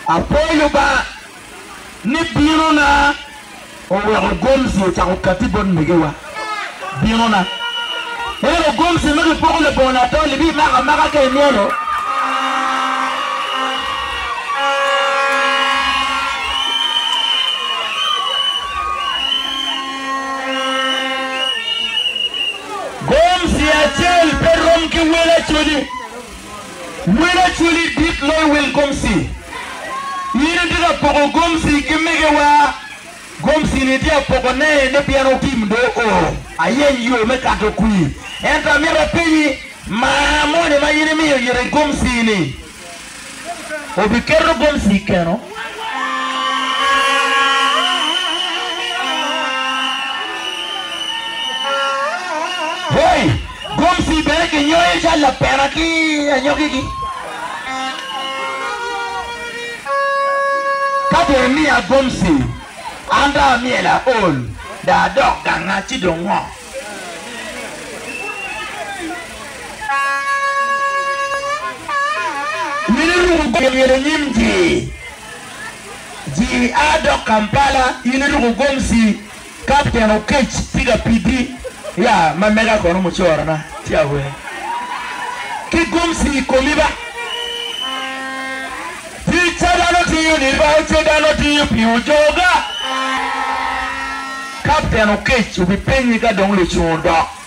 Apwoyo Lubanga ni binona oweko gomsi ocako kati bot megiwa. Binona ento gomsi ma kipoko labongo latol ibimako amaka ka imyero. Gomsi acel pe rom ki wel acoli. Wel Acholi dit loyo wel Gomsi. In itye ka poko Gomsi ki megewa, Gomsi-ni itye ka pokone ni pien otim do oo. Ayeny yo me kato kwir. Ento amito apenyi, maa moni ma in imiyo yiti Gomsi-ni obiketo Gomsi i keno? Hoi! Gomsi bene kinyoyo calo lapena ki anyogigi. Ka dong imiya gomsi, an dong amyelo aol, dong adok ganga, ci dong ngo? Mito iruko gomsi myel i nyim ji, ji a dok Kampala, in iruko gomsi Ka pien okec tye ka pidi ya ma mega kono mucorona ci awer ki gomci i komi ba. Ticca dano tiyo ni ba ce dano tiyo pi ojoga. Kapten okec obipenyi ka dong lucung odok.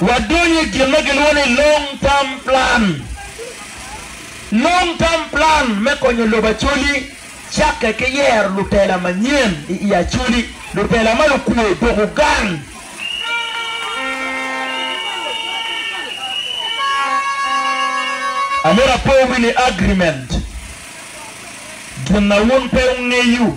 Wadonyo i gin ma gilwongo ni long term plan. Long term plan me konyo lobo Acholi cakke ki yero lutela manyen i i Acholi, lutela ma lukwo dok ogang. Amito apowi ni agreement, gin a wun pe wungeyo.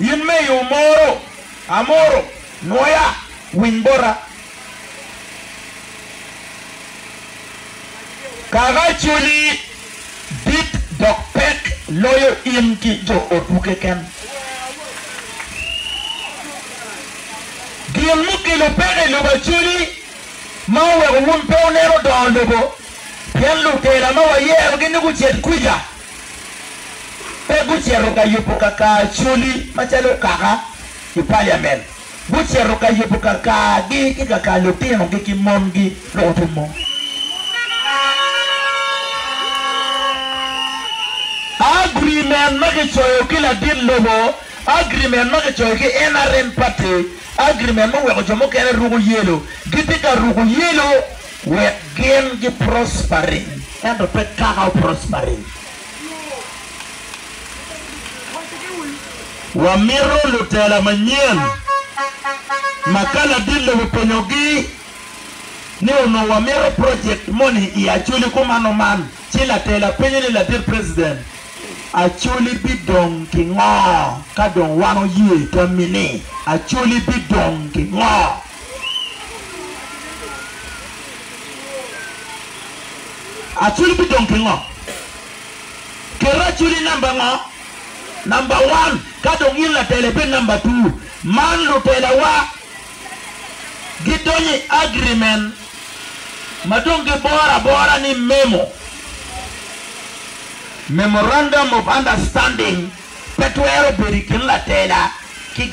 In me yo moro amoro nwoya winy bota. Kaka culi dit dok pek loyo in ki jo otwu keken. Gin mukelo peko i lobo aculi ma oweko wun pe wuneno dongo lobo pien lutela ma wayerogi ni gucit kwica. pe gucito ka yubo kakaacoli macalo okaka i paliamen. Gucito ka yubo kakaagi ki kaka lutinogi ki mongi dok orumo. Agrimen ma kicoyo ki ladit lobo, agrimen ma kicoyo ki NRM party, agrimen muweko jo mukene ruko yelo, gitye ka ruko yelo. Wek gin gi prospery ento pe kaka o prospery. Wa mito lutela manyen ma ka ladit lobo openyo gi ni onongo wa mito project moni i Acholi kumano man ci latela penyo ni ladit president Acholi bi dong ki ngo ka dong wan oye tami ni Acholi bi dong ki ngo? Acwiny bidong ki ngo? Ket acwiny i namba ngo? Namba wan, ka dong in latela ibed namba two. Man lutelawa gidonyo i agreement ma dong giboro abora ni memo, Memorandum of Understanding, pe twero bedo i kin latela ki.